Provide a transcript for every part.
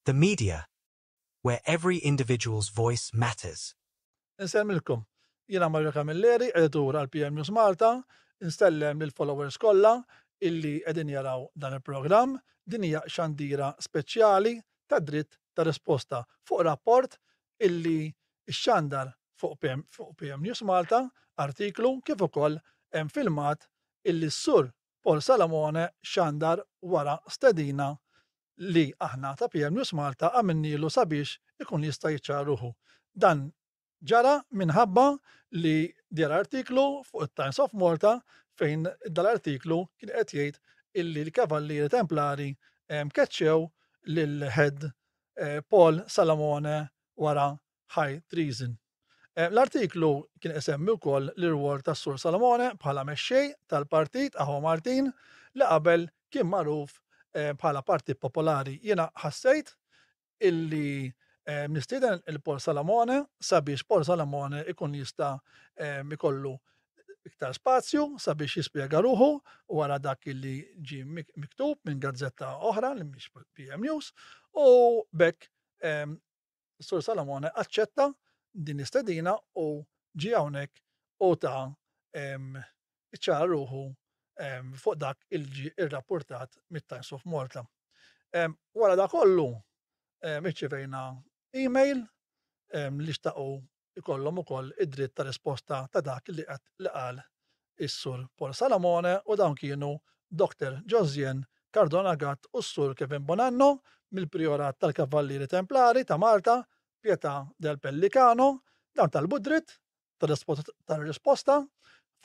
The media, where every individual's voice matters. Insellmilkom. Jiena Mario Camilleri, Editur għal PM News Malta. Insellem lill-followers kollha illi qegħdin jaraw dan il-programm. Din hija xandira speċjali tad-dritt ta' risposta fuq rapport illi xxandar fuq PM News Malta, artiklu kif ukoll hemm filmat illi s-Sur Paul Salamone xandar wara stedina li aħna ta' PM News Malta għamilnielu sabiex ikun jista' jiċċara ruħu. Dan ġara minħabba li deher artiklu fuq it-Times of Malta fejn dal-artiklu kien qed jgħid illi l-Kavallieri Templari keċċew lil Head Paul Salamone wara high treason. Eh, l-artiklu kien isemmi wkoll l-irwol tas-Sur Salomone bħala mexxej tal-partit Aħwa Martin li qabel kien magħruf eh, bħala Partit Popolari. Jiena ħassejt illi eh, nistieden il-Pol Salomone sabiex Pol Salomone ikun jista' ikollu iktar spazju sabiex jispjega ruħu wara dak illi ġi miktub minn gazzetta oħra li mhix PM News u bekk Is-Sur Salamone aċċetta din l-istedina u ġie hawnhekk u ta iċċara ruħu fuq dak il ġi irrapportat mit-Times of Malta. Wara da kollu, iċċevejna email li xtaqu ikollhom ukoll id-dritt ta' risposta ta' dak li qed li qal is-Sur Paul Salamone u dawn kienu Doctor Josien Cardona Gatt u s-Sur Kevin Bonanno mill-Prijorat tal-Kavallieri Templari ta' Malta, Pietà del Pellicano, dawn talbu d-dritt ta' risposta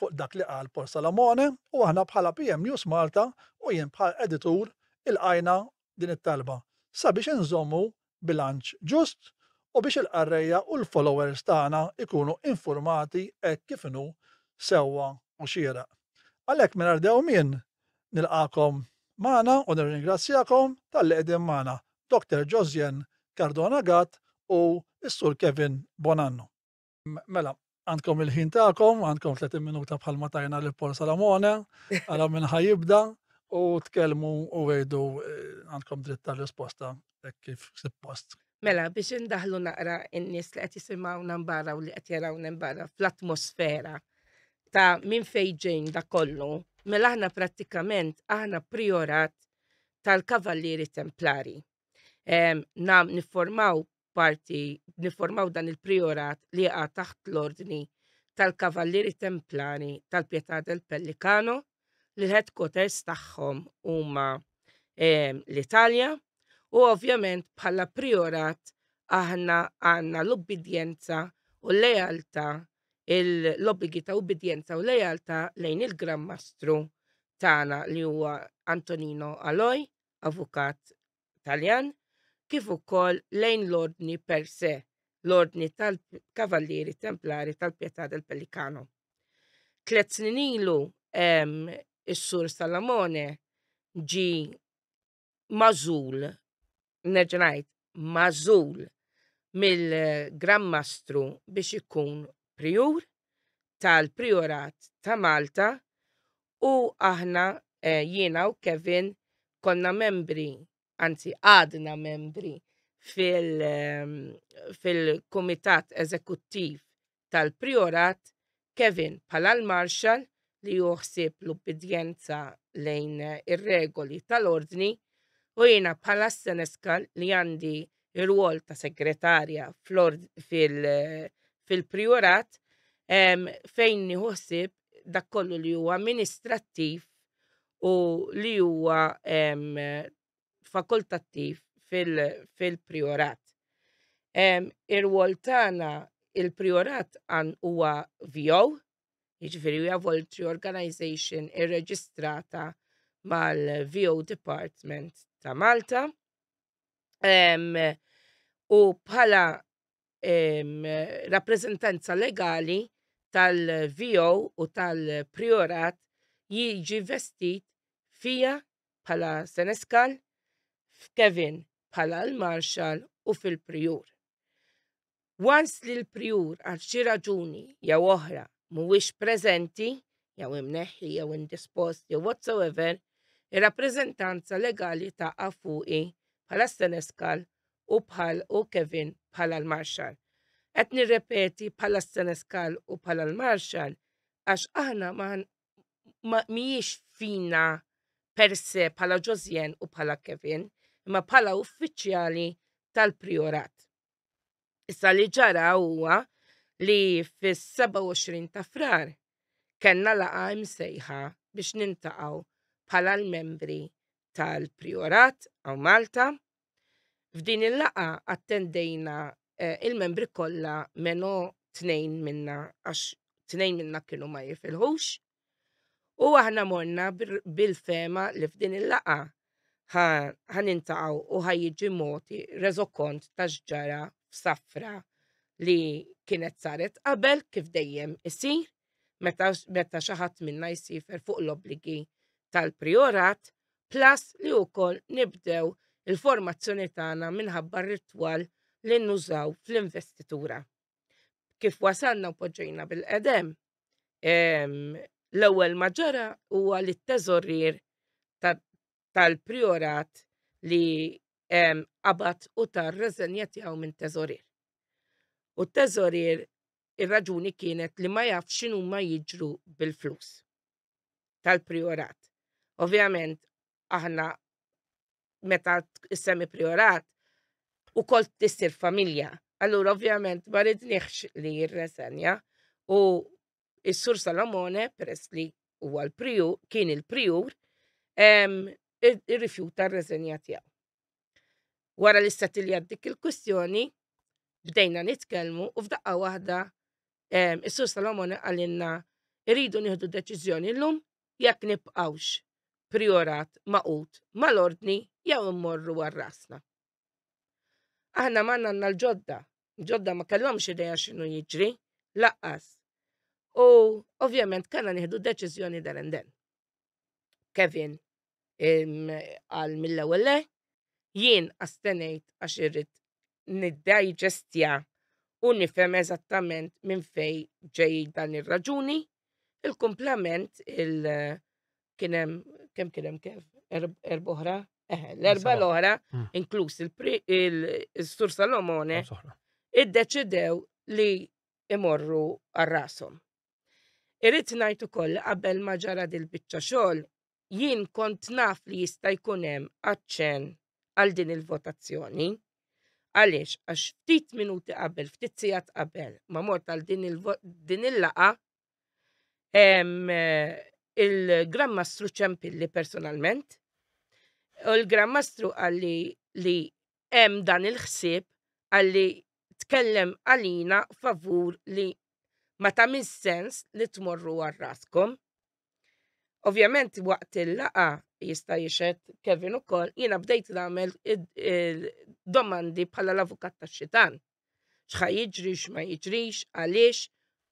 fuq dak li qal Paul Salamone u aħna bħala PM News Malta u jien bħala editur ilqajna din it-talba sabiex inżommu bilanċ ġust u biex il-qarrejja u l-followers tagħna jkunu infurmati hekk kif inhu sewwa u xieraq. Għalhekk mingħajr dewmien nilqagħkom magħna u nirringrazzjakom talli qegħdin magħna, Doctor Josiane Cardona Gatt u s-Sur Kevin Bonanno. Mela, għandkom il-ħin tagħkom, għandkom 30 minuta bħalma tajna li Paul Salamone, għala minn ħajibda u tkellmu u għidu eh, għandkom dritt tal-risposta eh, kif suppost. Mela, biex indaħlu naqra in-nies li qed jisimgħu nambara u li qed jaraw nambara fl-atmosfera ta' minn fejġejn da kollu, mela aħna prattikament aħna priorat tal-Kavallieri Templari. Nam niformaw parti nifformaw dan il-priorat li jaqa' taħt l-Ordni tal-Kavallieri Templari tal-Pietà del Pellicano li l-headquarters tagħhom huma ehm, l-Italja u ovvjament bħala priorat aħna għandna l-ubbidjenza u l-lealtà l-obbligi ta' ubbidjenza u lealtà lejn il-Gran Mastru tagħna li huwa Antonino Aloj, avukat Taljan kif ukoll lejn l-ordni per se, l-ordni tal-Kavallieri Templari tal-Pietà del Pellicano. Tlet snin ilu is-Sur Salamone ġi mażul, nerġa' ngħid, mażul mill-Gran Mastru biex ikun prijur tal-Prijorat ta' Malta u aħna eh, jiena u Kevin konna membri, anzi għadna membri ehm, fil-Kumitat fil Eżekuttiv tal-Priorat, Kevin bħala l-Marshal li juħsib l-ubbidjenza lejn ir-regoli tal-ordni u jiena bħala s-Seneskal li għandi ir-rwol ta' segretarja fil-prijorat fejn nieħu ħsieb dak kollu li huwa amministrattiv u li huwa fakultattiv fil-prijorat. Ir-rwol tagħna il-prijorat huwa VO, jiġifieri huwa voluntary organization irreġistrata mal-VO Department ta' Malta. u bħala rappreżentanza legali tal-VO u tal-Priorat jiġi vestit fija bħala Seneskal, f'Kevin bħala l-Marxal u fil-Prijur. Once li l-prijur għal xi raġuni jew oħra mhuwiex preżenti, jew imneħħi jew indispost jew whatsoever, ir-rappreżentanza legali taqa' fuqi bħala s-senescal u bħal u Kevin bħala l-marshal. Qed nirrepeti bħala s-senescal u bħala l-marshal għax aħna ma mhijiex fina per se bħala Josiane u bħala Kevin, imma bħala uffiċjali tal-prijorat. Issa li ġara huwa li fis-27 ta' Frar kellna laqgħa imsejħa biex niltaqgħu bħala l-membri tal-Priorat hawn Malta. F'din il-laqgħa attendejna eh, il-membri kollha meno tnejn minna għax tnejn minna kienu ma jifilħux. U aħna morna bil-fema li f'din il-laqa ħan intaqaw u ħaj jiġi moti reżokont ta' xġara f'safra li kienet saret qabel kif dejjem isir meta meta xi ħadd minna jsifer fuq l-obbligi tal-prijorat plus li wkoll nibdew il-formazzjoni tagħna minħabba r-ritwal li nużaw fl-investitura. Kif wasalna u poġġejna bil-qedem, L-ewwel ma ġara huwa li t-teżorier tal-priorat li qabad u tar reżenja tiegħu minn teżorier. U t-teżorier ir-raġuni kienet li ma jaf x'inhuma jiġru bil-flus tal-priorat. Ovvjament, aħna meta s-semi priorat u kol tissir familja. Allura ovvjament ma ridniħx li jirresenja u s-sur Salomone peress li huwa l-priju kien il-prijur irrifjuta r-reżenja tiegħu. Wara li settilja dik il-kwistjoni bdejna nitkellmu u f'daqqa waħda Ehm, Is-Sur Salomon qalilna irridu nieħdu deċiżjoni llum jekk nibqgħux priorat maqut mal-ordni jew immorru għal rasna. Aħna ma għandna l-ġodda, ġodda ma kellhomx idea x'inhu jiġri, laqqas. U ovvjament kellna nieħdu deċiżjoni dan and Kevin għal mill-ewwel le, jien astenejt għax irrid niddigestja u nifhem eżattament minn fejn ġej dan ir-raġuni. Il-kumplament il kien hemm kemm kien hemm kif erba' oħra? Eħe, l-erba' l-oħra, hmm. inkluż il-Sur Salomone, iddeċidew li imorru għar-rashom. Irrid ngħid ukoll qabel ma ġara dil-biċċa xogħol jien kont naf li jista' jkun hemm aċċenn għal din il-votazzjoni. Għaliex, għax ftit minuti qabel, ftit sigħat qabel, ma mort għal din il-laqa, il-Grammastru ċempilli personalment, u l-Grammastru għalli li hemm dan il-ħsieb għalli tkellem għalina favur li ma tagħmilx sens li tmorru għal raskom. Ovvjament waqt il-laqa jista' jixed Kevin ukoll jiena bdejt nagħmel domandi bħala l-avukat tax-xitan. X'ħa jiġri x'ma jiġrix, għaliex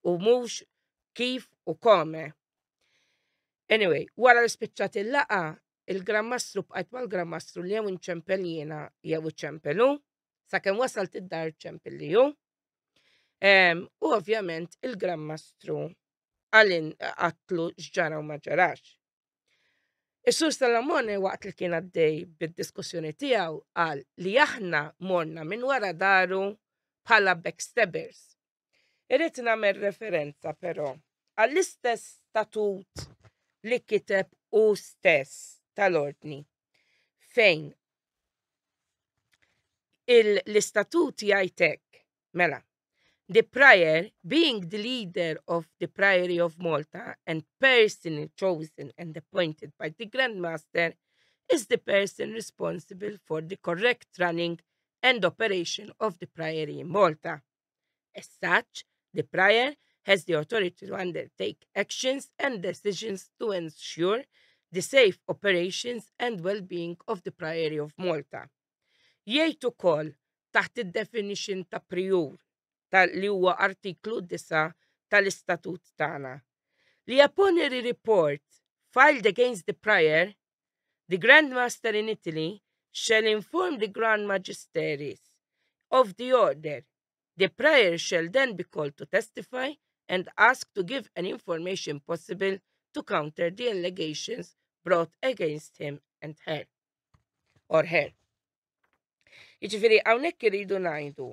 u mhux kif u kome. Anyway, wara l-spiċċat il-laqa Il-Gran Mastru bqajt mal-Gran Mastru li jew inċempel jiena jew iċempel hu, sakemm wasalt id-dar ċempel li hu. Ehm, u ovvjament il-Gran Mastru għalin għatlu xġara u ma ġarax. Is-Sur Salamone waqt li kien għaddej bid-diskussjoni tiegħu qal li aħna morna minn wara daru bħala backstabbers Irrid nagħmel referenza però għall-istess statut li kiteb u stess tal-ordni fejn l-istatut jgħidek mela the prior being the leader of the Priory of Malta and person chosen and appointed by the Grand Master is the person responsible for the correct running and operation of the Priory in Malta. As such, the prior has the authority to undertake actions and decisions to ensure the safe operations and well-being of the Priory of Malta. Jgħid ukoll taħt id-definition ta' priur ta' li huwa artiklu 9 tal-istatut tagħna li upon a report filed against the prior The Grand Master in Italy shall inform the Grand Magisteries of the order. The prior shall then be called to testify and ask to give any information possible to counter the allegations brought against him and her. Or her. Iġifiri, għawnek irridu najdu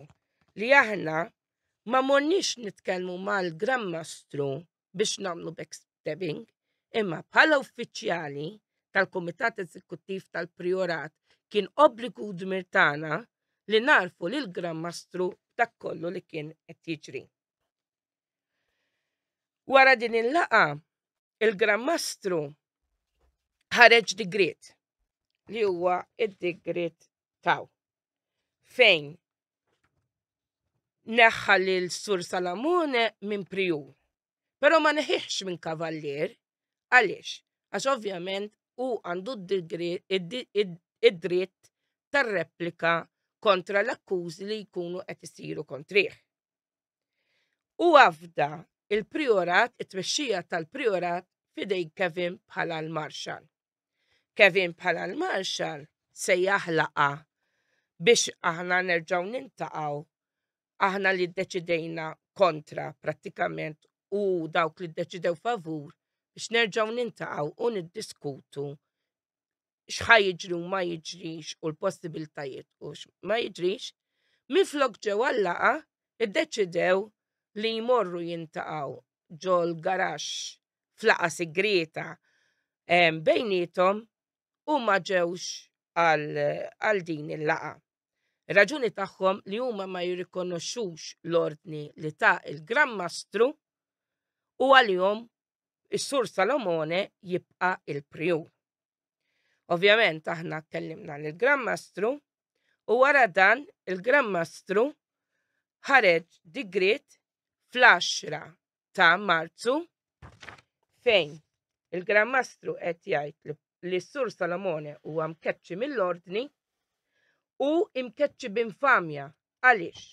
li aħna ma morniex nitkelmu mal-Gran Mastru biex nagħmlu backstabbing, imma bħala uffiċjali tal-Kumitat Eżekuttiv tal-Priorat kien obbligu u dmir tagħna li narfu lil Gran Mastru dak kollu li kien qed jiġri. Wara din il-laqa, il-Gran Mastru ħareġ digrit li huwa id-digrit taw fejn neħħa lil Sur Salamone minn prijur. Però ma neħiħx minn kavallier, għaliex? Għax ovvjament u għandu id-dritt tar-replika kontra l-akkużi li jkunu qed isiru kontrih. U għafda il-priorat, it-tmexxija tal-priorat fidej Kevin bħala l-marxal. Kevin bħala l-Marshal se jaħlaqha biex aħna nerġgħu nintaqgħu aħna li ddeċidejna kontra prattikament u dawk li ddeċidew favur biex nerġgħu nintaqgħu u niddiskutu x'ħa jiġri u ma jiġrix u l-possibiltajiet u ma jiġrix, minflok ġew għallaqa iddeċidew li jmorru jintaqgħu ġol garax f'laqa sigrieta bejnietom u ma ġewx għal din il-laqa. Raġuni tagħhom li huma ma jirrikonoxxux l-ordni li ta' il-Gran Mastru u għalihom is-Sur Salomone jibqa' il-prijur. Ovvjament aħna kellimna lill gran Mastru u wara dan il-Gran Mastru ħareġ digriet fl-10 ta' Marzu fejn il-Gran Mastru qed jgħid li s-Sur Salomone huwa mkeċċi mill-ordni u imkeċċi b'infamja għaliex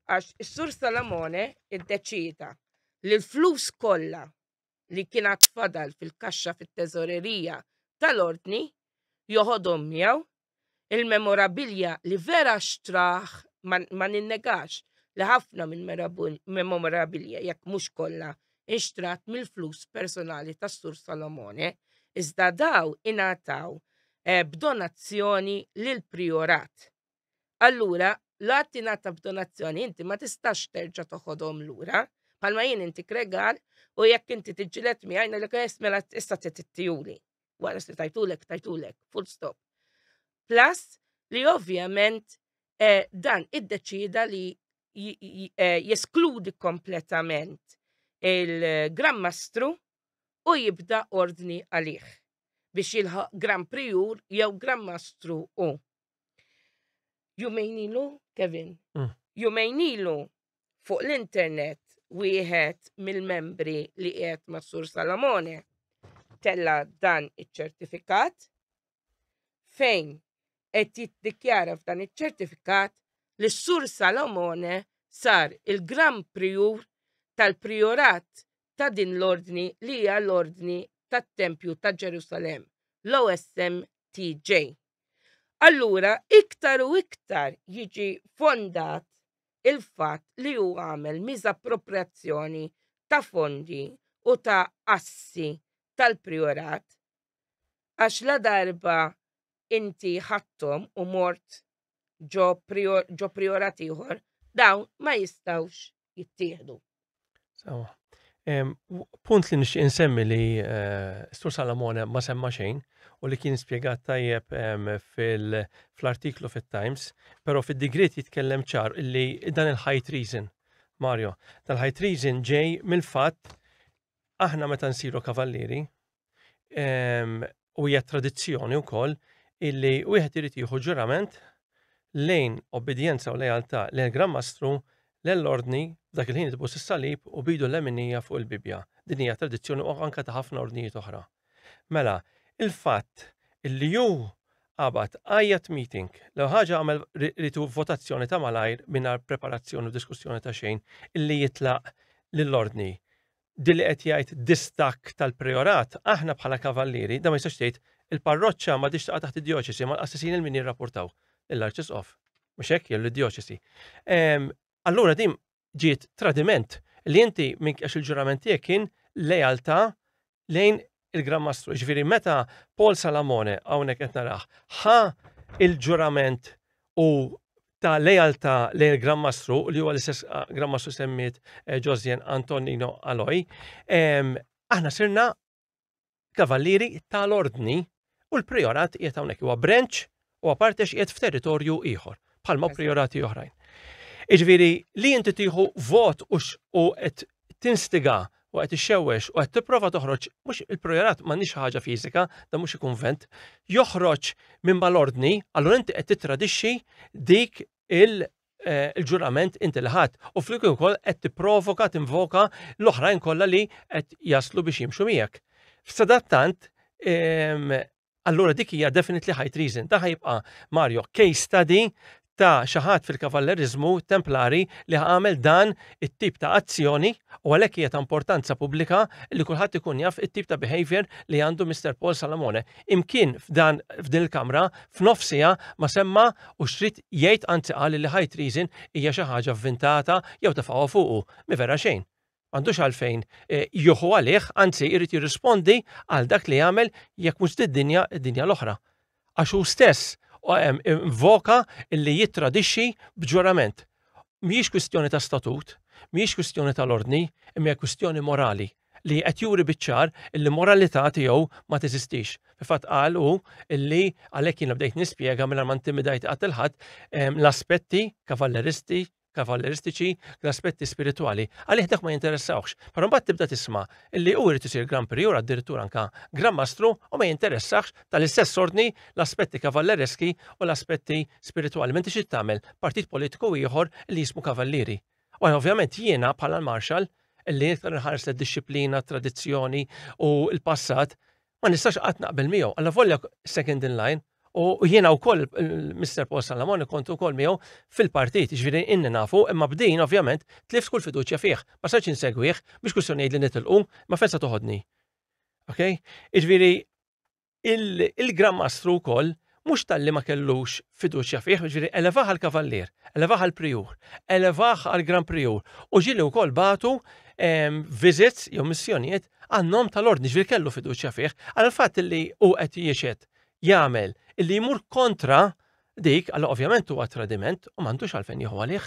għax is-Sur Salomone iddeċieda li l-flus kollha li kien għad fadal fil-kaxxa fit-teżorerija tal-ordni joħodhom miegħu Il-memorabilja li vera xtraħ ma ninnegax li ħafna mill-memorabilja jekk mhux kollha inxtrat mill-flus personali tas-Sur Salomone, iżda daw ingħataw eh, b'donazzjoni lill-prijorat. Allura, l-għadd tingħata b'donazzjoni inti ma tistax terġa' toħodhom lura, bħalma jien intik regal u jekk inti tiġġieled miegħi ngħidlek eh, mela issa trid ittijuli. wara se tajtulek, tajtulek, full stop. Plus li ovvjament eh, dan id-deċida li eh, jeskludi kompletament il-Gran Mastru u jibda ordni għalih biex jilħaq Gran Prijur jew Gran Mastru u. Jumejn ilu, Kevin, mm. jumejn ilu fuq l-internet wieħed mill-membri li qiegħed ma' Sur Salamone tella dan iċ-ċertifikat fejn qed jiddikjara f'dan iċ-ċertifikat li s-Sur Salamone sar il-Gran Priur tal-Priorat ta' din l-ordni li hija l-Ordni tat-Tempju ta' Ġerusalemm, l-OSMTJ. Allura iktar u iktar jiġi fondat il-fatt li hu għamel miżapproprjazzjoni ta' fondi u ta' assi tal-Prijorat għax la darba inti ħadthom u mort ġo prijorat ieħor dawn ma jistgħux jittieħdu. Sawa. Punt li nixtieq insemmi li eh, Stur Salamone ma semma xejn u li kien spjegat tajjeb fl-artiklu fit-Times, però fid-digriet jitkellem ċar li dan il-high treason, Mario, tal-high treason ġej mill-fatt Aħna meta nsiru kavallieri, ehm, u hija tradizzjoni wkoll illi wieħed irid jieħu ġurament lejn obbedjenza u lealtà lejn Gran Mastru l-ordni dak il-ħin tbus is-salib u bidu l-leminija fuq il-Bibja. Din hija tradizzjoni u anka ta' ħafna ordnijiet oħra. Mela, il-fatt illi hu qabad qiegħed meeting, l-ewwel ħaġa għamel ried hu votazzjoni ta' malajr mingħajr preparazzjoni u diskussjoni ta' xejn illi jitlaq lill-Ordni. Din li qed jgħid distakk tal-Prijorat, aħna bħala Kavallieri, dan ma jistax tgħid, il-parroċċa m'għadhiex taqa' taħt id-djoċesi ma l-qassisin il-min jirrapportaw lill-Arċisqof. Mhux hekk, jew lid-djoċesi. Allura din ġiet tradiment li inti minn għax il-ġurament tiegħek kien lealtà lejn il-Gran Mastru. Ġifieri meta Paul Salamone hawnhekk qed narah ħa il-ġurament u ta' lealtà lejn il-Gran Mastru li huwa l-istess ah, Gran Mastru semmiet eh, Josien Antonino Aloj, aħna sirna Kavallieri tal-Ordni u l-Priorat qiegħed hawnhekk huwa branch u aparte x'qiegħed f'territorju ieħor bħalma priorati oħrajn. Iġviri, li inti tieħu vot u qed tinstiga u qed ixxewwex u qed tipprova toħroġ mhux il-projerat m'għandix ħaġa fiżika, da mhux kunvent, joħroġ minn mal-ordni, allura inti qed titradixxi dik il eh, il-ġurament inti li ħadd u flimkien ukoll qed tipprovoka tinvoka l-oħrajn kollha li qed jaslu biex jimxu miegħek. F'sadattant ehm, allura dik hija definitely high treason. Da ħajbqa' Mario case study ta' xaħat fil-kavallerizmu templari li għamel dan it-tip ta' azzjoni u għalhekk hija ta' importanza pubblika li kulħadd ikun jaf it-tip ta' behavior li għandu Mr. Paul Salamone. imkien f'dan f'din il-kamra f'nofsiha ma semma u xrid jgħid anzi qal li high treason hija xi ħaġa vvintata jew tefgħu fuqu. Mi vera xejn. M'għandux għalfejn e, juħu għalih, anzi jrid jirrispondi għal dak li jagħmel jekk mhux did-dinja id-dinja l-oħra. Għax hu stess voka li jittradixxi b'ġurament. Mhijiex kwistjoni ta' statut, mhijiex kwistjoni tal-ordni, imma hija kwistjoni morali li qed juri biċ-ċar illi moralità tiegħu ma teżistix. Fil-fatt qal hu illi għalhekk jiena bdejt nispjega mingħajr ma ntimidajt qatt il ħadd ehm, l-aspetti kavalleristi kavalleristiċi l-aspetti spiritwali. Għalih dak ma jinteressawx. Però mbagħad tibda tisma' li hu jrid isir Gran Prijur addirittura anka Gran Mastru u ma jinteressax Tal-istess ordni, l-aspetti kavallereski u l-aspetti spiritwali. Menti xi tagħmel partit politiku ieħor li jismu kavallieri. U ovvjament jiena bħala l-marxal li iktar nħares lid-dixxiplina, tradizzjoni u l-passat, ma nistax qatt naqbel miegħu. Alla volja second in line u jiena wkoll Mr. Paul Salamon kont ukoll miegħu fil-partit, ġifieri inni nafu, imma b'din ovvjament tlift kull fiduċja fih. Ma sarx insegwih biex kwistjoni li nitilqu, ma fensa toħodni. Ok? Iġviri, il-Gran Mastru wkoll mhux talli ma kellux fiduċja fih, ġifieri elevaħ għal kavallier, elevaħ għal prijur, elevaħ għal gran prijur u ġieli wkoll batu ehm, visits jew missjonijiet għan-nom tal-ordni ġifieri kellu fiduċja fih għal fatt li hu qed jiexed jagħmel illi jmur kontra dik, għal ovvjament huwa tradiment u m'għandux għalfejn jieħu għalih.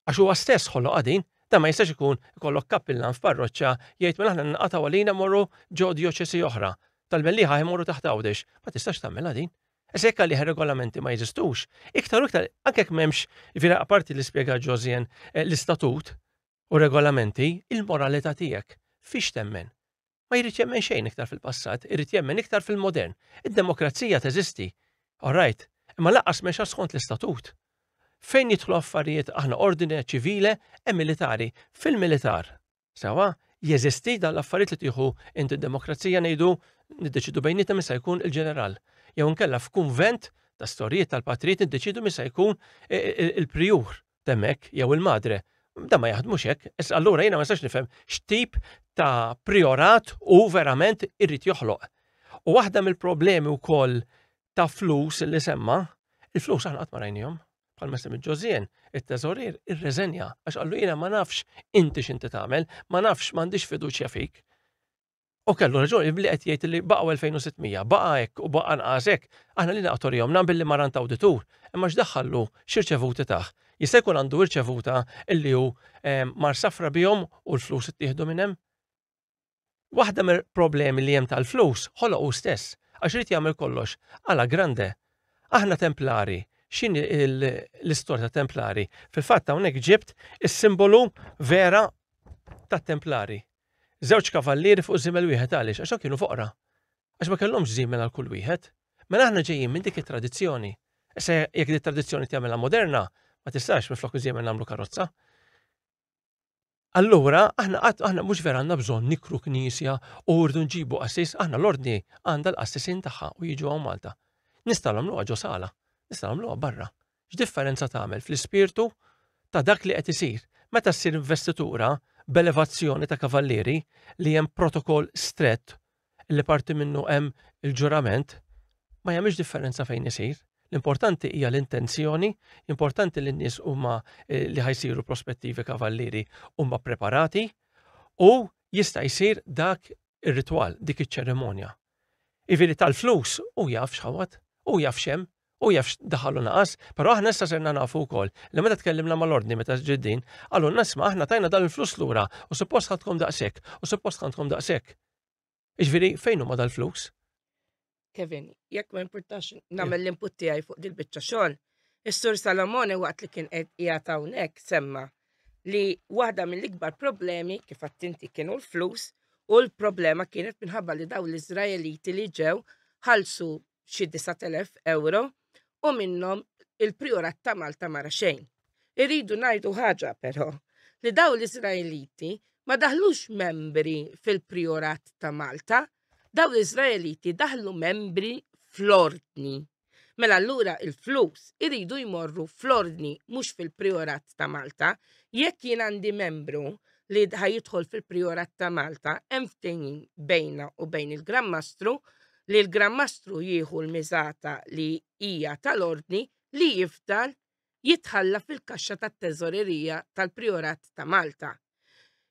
Għax huwa stess ħoloqha din, dan ma jistax ikun ikollok kappillan f'parroċċa jgħid mela aħna ninqatgħu għalina morru ġo djoċesi oħra, tal-Mellieħa imorru taħt Għawdex. Ma tistax tagħmilha din. Issa jekk għalih ir-regolamenti ma jeżistux, iktar u iktar anke jekk m'hemmx, jiġifieri apparti li spjega Ġosien eh, l-istatut u regolamenti, il-moralità tiegħek fiex temmen? ma jrid jemmen xejn iktar fil-passat, irid jemmen iktar fil-modern. Id-demokrazija teżisti, all right, imma laqqas mexa skont l-istatut. Fejn jidħlu affarijiet aħna ordine ċivile e militari fil-militar. Sewa, jeżisti dan l-affarijiet li tieħu inti d-demokrazija ngħidu niddeċidu bejnietna min se jkun il-ġeneral. Jew inkella f'kunvent ta' storjiet tal-patrijiet niddeċidu min se jkun il-prijur. t'hemmhekk jew il-madre. Dan ma jaħdmux hekk, issa allura jiena ma nistax nifhem x'tip ta' priorat hu verament irid joħloq. U waħda mill-problemi wkoll ta' flus li semma, il-flus aħna qatt ma rajnihom. Bħal ma semmi Ġożien, it-teżorier irreżenja għax qallu jiena ma nafx inti x'inti tagħmel, ma nafx m'għandix fiduċja fik. U kellu raġun il-bli qed jgħid li baqgħu 2600, baqa' hekk u baqa' nqas hekk, aħna li naqgħu rihom naqbel li marant awditur, imma x'daħħallu x'irċevuti tah. Jista' jkun għandu irċevuta illi hu ehm, mar safra bihom u l-flus ittieħdu minn hemm? Waħda mill-problemi li hemm tal-flus ħoloq hu stess għax irid jagħmel kollox għala grande. Aħna Templari, x'in l-istorja ta' Templari? Fil-fatt hawnhekk ġibt is-simbolu vera tat-Templari. Żewġ kavallieri fuq żiemel wieħed għaliex? Għax dawn kienu foqra. Għax ma kellhomx żiemel għal kull wieħed. Mela aħna ġejjin minn dik it-tradizzjoni. Issa jekk dik tradizzjoni tagħmilha moderna, ma tistax minflok iżiemel nagħmlu karozza. Allura, aħna qatt aħna mhux vera għandna bżonn nikru knisja u rridu nġibu qassis, aħna l-ordni għandha l-qassisin tagħha u jiġu hawn Malta. Nistgħu nagħmluha ġo sala, nistgħu nagħmluha barra. x'differenza tagħmel fl-ispirtu ta' dak li qed isir meta ssir investitura b'elevazzjoni ta' kavallieri li hemm protokoll strett li parti minnu hemm il-ġurament, ma jagħmilx differenza fejn isir. L-importanti hija l-intenzjoni, importanti li n-nies huma eh, li ħajsiru prospettivi kavallieri huma preparati u jista' jsir dak ir-ritwal, dik iċ-ċerimonja. Iviri tal-flus u jaf xħawat, u jaf xem, Hu jaf x'daħal u naqas, però aħna issa sirna nafu wkoll li meta tkellimna mal-Ordni meta ġiet din, qalulna isma' aħna tajna dan il-flus lura u suppost ħadtkom daqshekk u suppost ħadtkom daqshekk. Jiġifieri fejn huma dal-flus? Kevin, jekk ma importax nagħmel l-input tiegħi fuq dil-biċċa xogħol, is-Sur Salamone waqt li kien qed qiegħed hawnhekk semma li waħda mill-ikbar problemi kif attinti kienu l-flus u l-problema kienet minħabba li daw l-Iżraeliti li ġew ħalsu xi 9,000 euro u minnhom il-Priorat ta' Malta mara xejn. Irridu ngħidu ħaġa però li daw l-Iżraeliti ma daħlux membri fil-Priorat ta' Malta, daw l-Iżraeliti daħlu membri fl-Ordni. Mela allura il-flus iridu jmorru fl-Ordni mhux fil-Priorat ta' Malta. Jekk jien għandi membru li ħajidħol fil-Priorat ta' Malta hemm ftehim bejna u bejn il-Gran Mastru li l-Gran Mastru jieħu l-miżata li hija tal-Ordni li jifdal jitħalla fil-kaxxa tat-Teżorerija tal-Prijorat ta' Malta.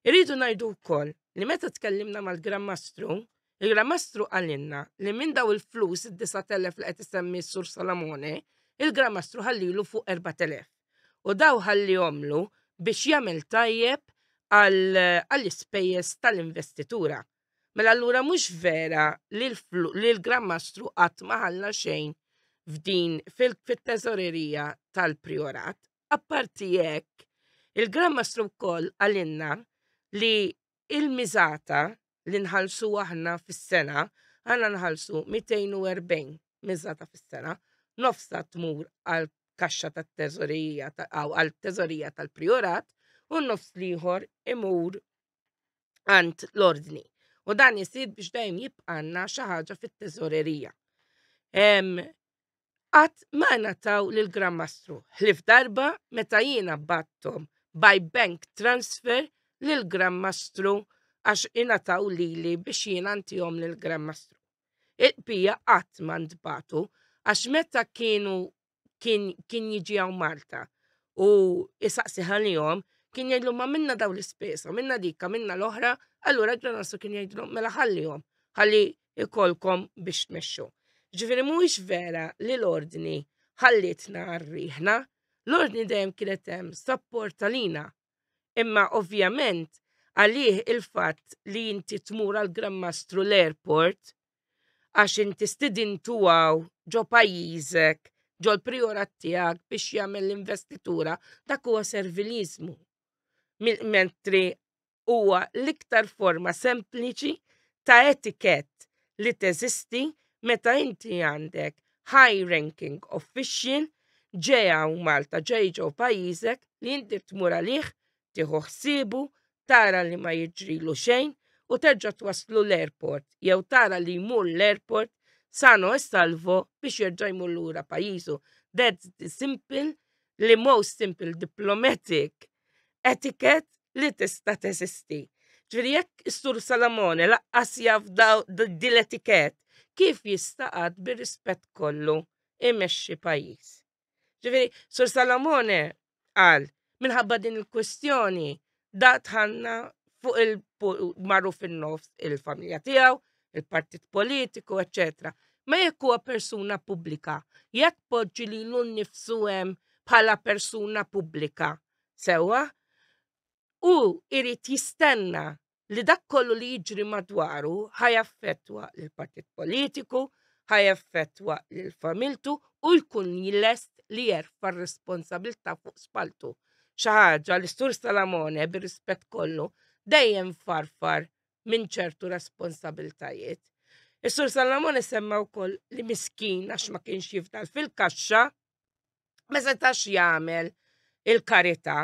Irridu ngħidu wkoll li meta tkellimna mal-Gran Mastru, il-Gran Mastru qalilna li minn daw il-flus id-9,000 li qed isemmi s-Sur Salamone, il-Gran Mastru ħallilu fuq 4,000. U daw ħallihomlu biex jagħmel tajjeb għall-ispejjeż tal-investitura. Mela allura mhux vera li l-Gran Mastru qatt ma ħalla xejn f'din fit-teżorerija tal-Priorat. Apparti hekk, il-Gran Mastru wkoll qalilna li l-miżata li nħallsu aħna fis-sena, aħna nħallsu 240 miżata fis-sena, nofsha tmur għall-kaxxa tat-teżorerija għall-teżorija tal-Priorat u n-nofs l-ieħor imur għand l-ordni. U dan jisir biex dejjem jibqanna xi ħaġa fit-teżorerija. Qatt ma nataw lil Gran Mastru, ħlif darba meta jiena battom by bank transfer lil Gran Mastru għax ingħataw lili biex jiena ntihom lil Gran Mastru. Il-qbija qatt ma ntbatu għax meta kienu kien kien jiġi hawn Malta u jisaqsi ħalihom kien jgħidlhom ma minna daw l-ispesa, minna dikka, minna l-oħra, allura John Russell kien jgħidlhom mela ħallihom, ħalli ikolkom biex tmexxu. Ġifieri mhuwiex vera li l-ordni ħallitna għarriħna, l-ordni dejjem kienet hemm sapport għalina. Imma ovvjament għalih il-fatt li inti tmur għal Grand Mastru l-airport għax inti stidintu għaw ġo pajjiżek, ġol priorat tiegħek biex jagħmel l-investitura, dak huwa serviliżmu. Mentri huwa l-iktar forma sempliċi ta' etikett li teżisti meta inti għandek high ranking official ġeja u Malta ġej ġew pajjiżek li inti tmur għalih tieħu ħsiebu, tara li ma jiġrilu xejn u terġa' twasslu l-airport jew tara li jmur l-airport sano e salvo biex jerġa' jmur lura pajjiżu. That's the simple, li most simple diplomatic etiquette li tista' teżisti. Ġifieri jekk is-Sur Salamone laqqas jaf din l-etiquette, kif jista' qatt bir-rispett kollu imexxi pajjiż? Ġifieri, Sur Salamone qal minħabba din il-kwestjoni da tħanna fuq il marru fin-nofs il-familja tiegħu, il-partit politiku, eċċetera. Ma jekk huwa persuna pubblika, jekk poġġi li l nifsu hemm bħala persuna pubblika, sewwa, u irrit jistenna li dak kollu li jiġri madwaru ħajaffettwa l-partit politiku, ħajaffettwa l-familtu u jkun lest li jerfa r-responsabilta fuq spaltu. ħaġa li Sur Salamone bir-rispett kollu dejjem farfar minn ċertu responsabiltajiet. Is-Sur Salamone semma wkoll li miskin għax ma kienx jifdal fil-kaxxa, ma setax jagħmel il-karità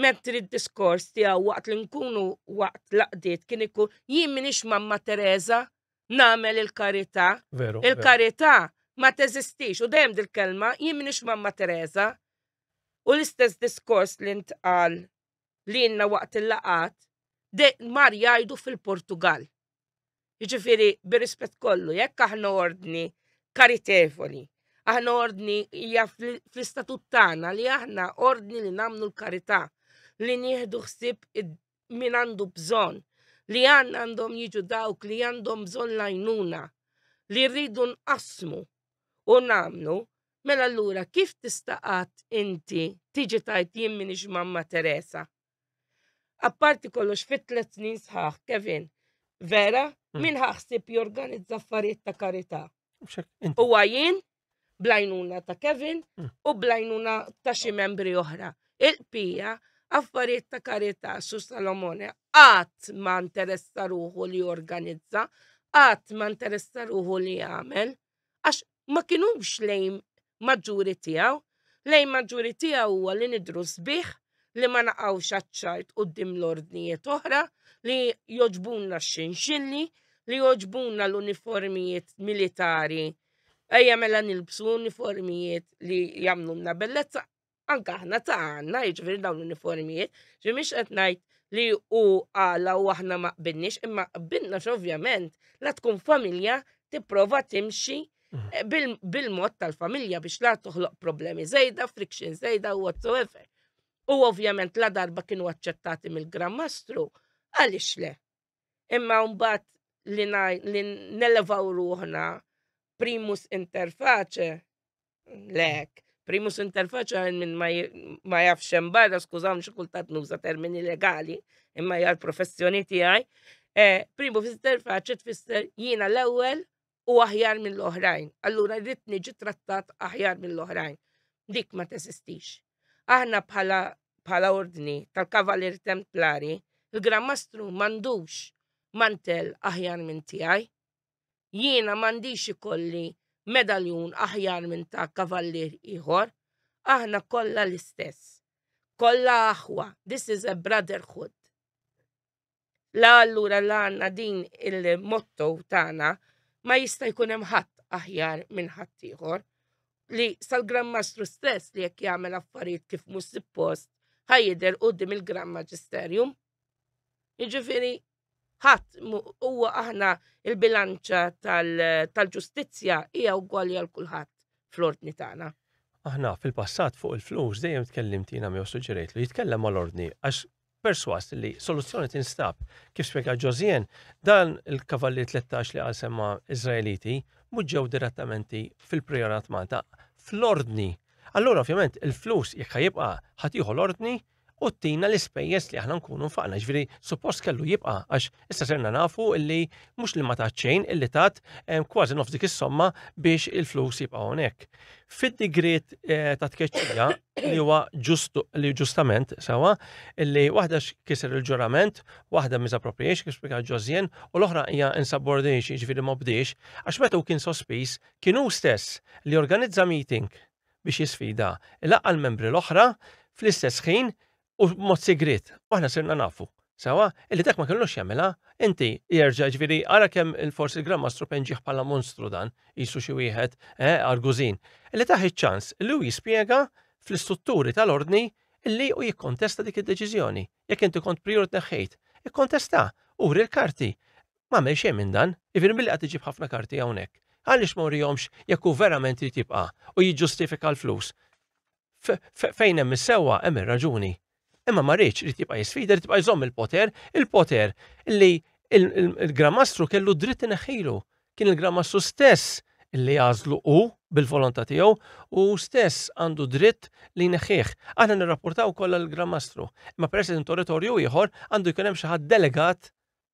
mentri d-diskors tiegħu waqt li nkunu waqt laqdiet kien ikun jien minix mamma Teresa nagħmel il-karità. Il-karità ma teżistix u dejjem dil-kelma jien minix mamma Teresa. U l-istess diskors li ntqal li jenna waqt il-laqat, de mar jgħidu fil-Portugal. Jiġifieri bir-rispett kollu, jekk aħna ordni karitevoli, aħna ordni hija fl-istatut tagħna li aħna ordni li nagħmlu l-karità, li nieħdu ħsieb min għandu bżonn, li għandna għandhom jiġu dawk li għandhom bżonn lajnuna, li rridu nqasmu u nagħmlu Mela allura kif tista' qatt inti tiġi tgħid jien m'iniex Mamma Teresa? Apparti kollox fit tliet snin sħaħ, Kevin, vera, hmm. min ħaħsib jorganizza affarijiet ta' karità. U għajin, blajnuna ta' Kevin hmm. u blajnuna ta' xi membri oħra. Il-pija, affarijiet ta' karità su Salomone, għat ma' interessa ruħu li jorganizza, għat ma' interessa ruħu li jagħmel. għax ma kinux lejn maġġuri tiegħu, lejn maġġuri tiegħu huwa li nidru sbieħ li ma naqgħux aċċart quddiem l-ordnijiet oħra li joġbunna x-xinxilli, li joġbunna l-uniformijiet militari. Ejja mela nilbsu uniformijiet li jagħmlulna bellezza. anke aħna ta' għandna jiġifieri dawn l-uniformijiet, ġi mhix qed ngħid li u għala u aħna ma qbilniex, imma qbilna x'ovvjament la tkun familja tipprova timxi mhm. eh, bil-mod tal-familja biex la toħloq problemi zejda, friction zejda u whatsoever. U ovvjament la darba kienu aċċettati mill-Gran Mastru, għaliex le? Imma mbagħad li nelevaw ruħna primus interface Lek, primus inter faċa għal minn ma jafx hemm barra, skużaw xi kultat nuża termini legali, imma hija l-professjoni tiegħi. Eh, primu inter faċa tfisser jiena l-ewwel u aħjar mill-oħrajn. Allura rrid niġi trattat aħjar mill-oħrajn. Dik ma tesistix. Aħna bħala bħala ordni tal-Kavalir Templari, il-Gran Mastru mandux mantel aħjar minn tiegħi. Jiena m'għandix ikolli medaljun aħjar minn ta' kavallier ieħor. Aħna kollha l-istess. Kollha aħwa, this is a brotherhood. La allura la għandna din il-motto tagħna ma jista' jkun hemm ħadd aħjar minn ħadd ieħor li sal-Gran Mastru stess li jekk jagħmel affarijiet kif mhux suppost ħajjidher qudiem il-Gran Maġisterjum. Jiġifieri ħadd huwa aħna il-bilanċa tal-ġustizzja hija ugwali għal kulħadd fl-ordni tagħna. Aħna fil-passat fuq il-flus dejjem tkellimt jiena miegħu suġġerejt li jitkellem mal-ordni għax perswas li soluzzjoni tinstab kif spjega Ġożien dan il-kavalli 13 li għal semma Iżraeliti muġġew direttamenti fil-priorat Malta fl-ordni. Allura ovvjament il-flus jekk ħajibqa' ħatiħu l-ordni u tina l-ispejjeż li aħna nkunu nfaqna. Ġifieri suppost kellu jibqa' għax issa serna nafu illi mhux li ma tat xejn illi tat eh, kważi nofs dik is-somma biex il-flus jibqa' hawnhekk. Fid-digriet eh, ta' tkeċċija li huwa ġustu li ġustament sewa illi waħda kiser il-ġurament, waħda misappropriation kif spjega Ġożjen u l-oħra hija insubordination ġifieri ma bdiex għax meta kien sospiż kien hu stess li organizza meeting biex jisfida, ilaqqa' l-membri l-oħra fl-istess ħin u b'mod sigriet, u aħna sirna nafu, sewwa, illi dak ma kellux jagħmilha, inti, jerġa', jiġifieri ara kemm forsi il-Gran Mastru penġieh bħala monstru dan, qisu xi wieħed, eh, argużin, illi tah iċ-ċans illi hu jispjega fl-istrutturi tal-Ordni illi hu jikkontesta dik id-deċiżjoni, jekk inti kont Prijur tneħħejt, ikkontestah, uri l-karti, M'għamel xejn minn dan, jiġifieri milli qed iġib ħafna karti hawnhekk. Għaliex ma urihomx jekk hu verament irid jibqa' u jiġġustifika l-flus? Fejn hemm is-sewwa hemm ir-raġuni. Imma ma rridx irid jibqa' jisfida, irid jibqa' jżomm il-poter, il-poter li il-Gramastru kellu dritt ineħħilu. Kien il-Gramastru stess li għażlu hu bil-volontà tiegħu u hu stess għandu dritt li jneħħih. Aħna nirrapportaw kollha l-Gramastru, imma peress li territorju ieħor għandu jkun hemm xi ħadd delegat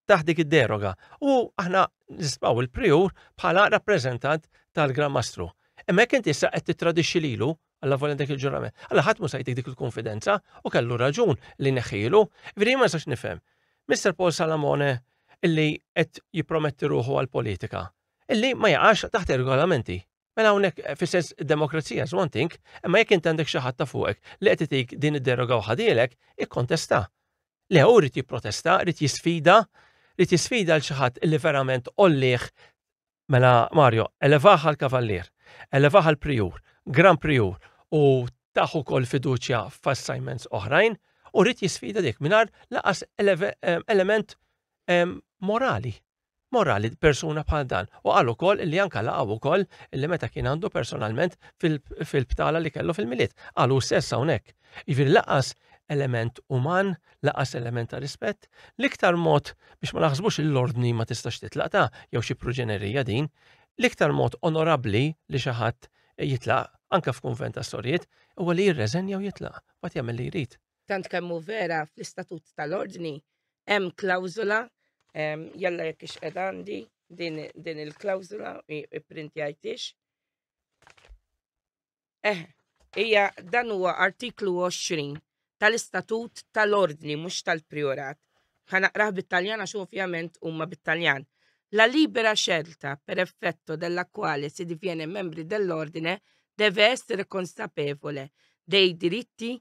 taħt dik id-deroga. U aħna nisbaw il-priur bħala rappreżentant tal-Gran Mastru. Emmek inti issa qed titradixxi lilu għalla volja dak il-ġurament. Alla ħadd mhux dik il-konfidenza u kellu raġun li neħilu, veri ma sax nifhem. Mr. Paul Salamone illi qed jipprometti ruħu għal politika, illi ma jaqax taħt ir-regolamenti. Mela hawnhekk eh, fis-sens demokrazija is one thing, imma jekk int għandek xi ħadd ta' fuqek li qed itik din id-deroga u ħadilek, ikkontesta. Le hu rrid jipprotesta, rrid jisfida, rrid jisfida l xi ħadd li verament ollih mela Mario, elevaħa l-kavallier, elevaħa l-prijur, gran prijur u taħu kol fiduċja f'assignments oħrajn u rrid jisfida dik mingħajr laqas eh, element eh, morali. morali persuna bħal dan. U qal ukoll li anka laqgħu ukoll li meta kien għandu personalment fil-btala li kellu fil-miliet. Qal hu stess hawnhekk. Jiġifieri laqas element uman, laqas element ta' rispett, l-iktar mod biex ma naħsbux l-ordni ma tistax titlaq ta' jew xi proġenerija din, l-iktar mod onorabbli li xi ħadd jitlaq anke f'kunvent ta' storjiet huwa li jirreżenja u jitlaq, waqt jagħmel li jrid. tant kemm hu vera fl-istatut tal-ordni hemm klawżola ehm, jalla jekk ix qed għandi din, din il-klawżola ipprintjajtix. Eh, hija dan huwa artiklu 20 tal-istatut tal-ordni mhux tal-priorat. Ħanaqrah bit-Taljan għax ovvjament huma bit-Taljan. La libera scelta per effetto della quale si diviene membri dell'ordine deve essere consapevole dei diritti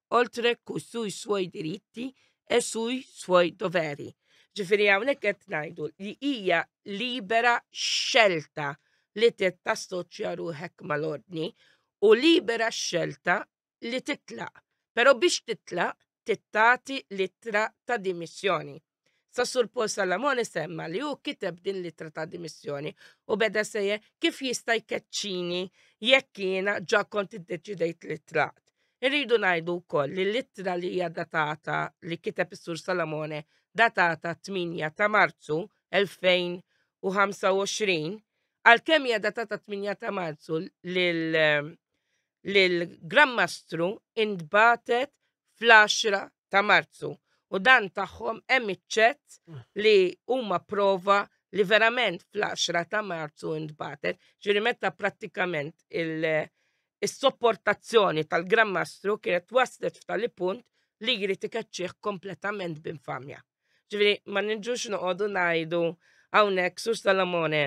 oltre cu sui suoi diritti e sui suoi doveri. Ġifieri hawnhekk qed ngħidu li hija libera xelta li tassoċja ruħek mal-ordni u libera xelta li titlaq. Però biex titlaq tittati l-ittra ta' dimissjoni. Sa Sur Paul Salamone semma li hu kiteb din l-ittra ta' dimissjoni u beda sejje kif jista' jkeċċini jekk jiena ġa kont iddeċidejt li tlaqt. Irridu ngħidu wkoll li l-ittra li hija datata li kiteb is-Sur Salamone datata 8 ta' Marzu 2025 għalkemm hija datata 8 ta' Marzu lil lill-Gran Mastru intbagħtet fl-għaxra ta' Marzu u dan tagħhom hemm iċ-ċett li huma prova li verament fl-għaxra ta' Marzu intbagħtet, ġifieri meta prattikament is-sopportazzjoni tal-Gran Mastru kienet waslet f'tali punt li jrid ikeċċih kompletament b'infamja. Ġifieri ma niġux noqogħdu ngħidu hawnhekk Sur Salamone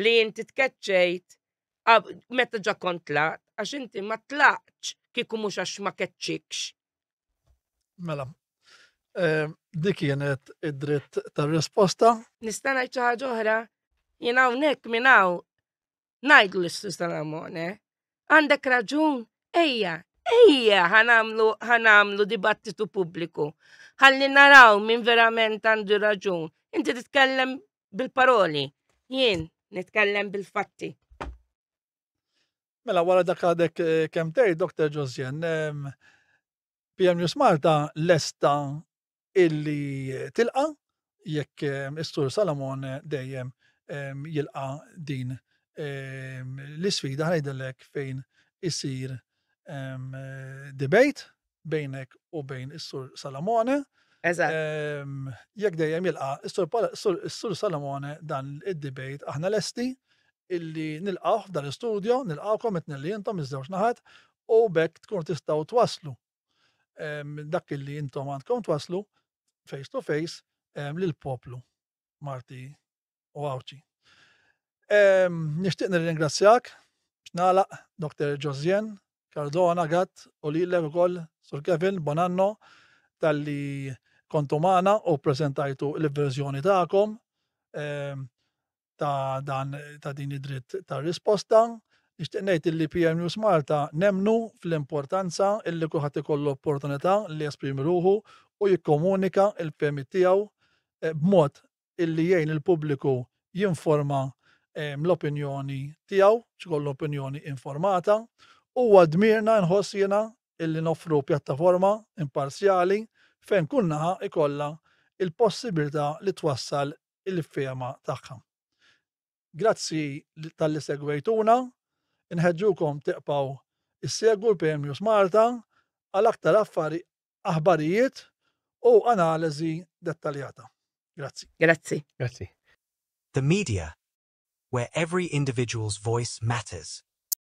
li inti tkeċċejt meta ġa kont tlaqt, għax inti ma tlaqtx kieku mhux għax ma keċċikx. Mela, eh, dik kienet id-dritt tar-risposta. Nista' ngħid xi ħaġa oħra, jien hawnhekk minn hawn ngħidlu l Susan Amone, għandek raġun, ejja, ejja ħanamlu ħanamlu dibattitu pubbliku. Ħalli naraw minn verament għandu raġun. Inti titkellem bil-paroli, jien nitkellem bil-fatti. Mela wara dak għadek eh, kemm tgħid Dr. Josjen, PM News Malta lesta illi tilqa jekk istur Salomon dejjem jilqa din l-isfida ħajdellek fejn isir debate bejnek u bejn is-Sur Salamone. Eżatt. Ehm, jekk dejjem jilqa' is-Sur Pala- is-Sur- is-Sur Salamone dan id-debate aħna lesti illi nilqgħu f'dan l-istudio, nilqgħukom qed nilli intom iż-żewġ naħat u bekk tkunu tistgħu twaslu ehm, dak illi intom għandkom twaslu face to face ehm, lill-poplu Marti u Għawdxi. Nixtieq nirringrazzjak x'nagħlaq Dr. Josien Cardona Gatt u lilek ukoll Sur Kevin Bonanno talli kontu magħna u preżentajtu l-verżjoni tagħkom ta' dan ta' din id-dritt ta' risposta. Nixtieq ngħid li PM News Malta nemnu fl-importanza illi kulħadd ikollu opportunità li jesprimi ruħu u jikkomunika l-fehmiet tiegħu eh, b'mod illi jgħin il-pubbliku jinforma l-opinjoni tiegħu, jkollu opinjoni informata. Huwa dmirna nħoss jiena illi noffru pjattaforma imparzjali fejn kull naħa jkollha l-possibilità li twassal il-fehma tagħha. Grazzi talli segwejtuna, inħeġġukom tibqgħu issegwu l-PMNews Malta għal aktar affari aħbarijiet u analiżi dettaljata. Grazzi. Grazzi. Grazzi. The media, where every individual's voice matters.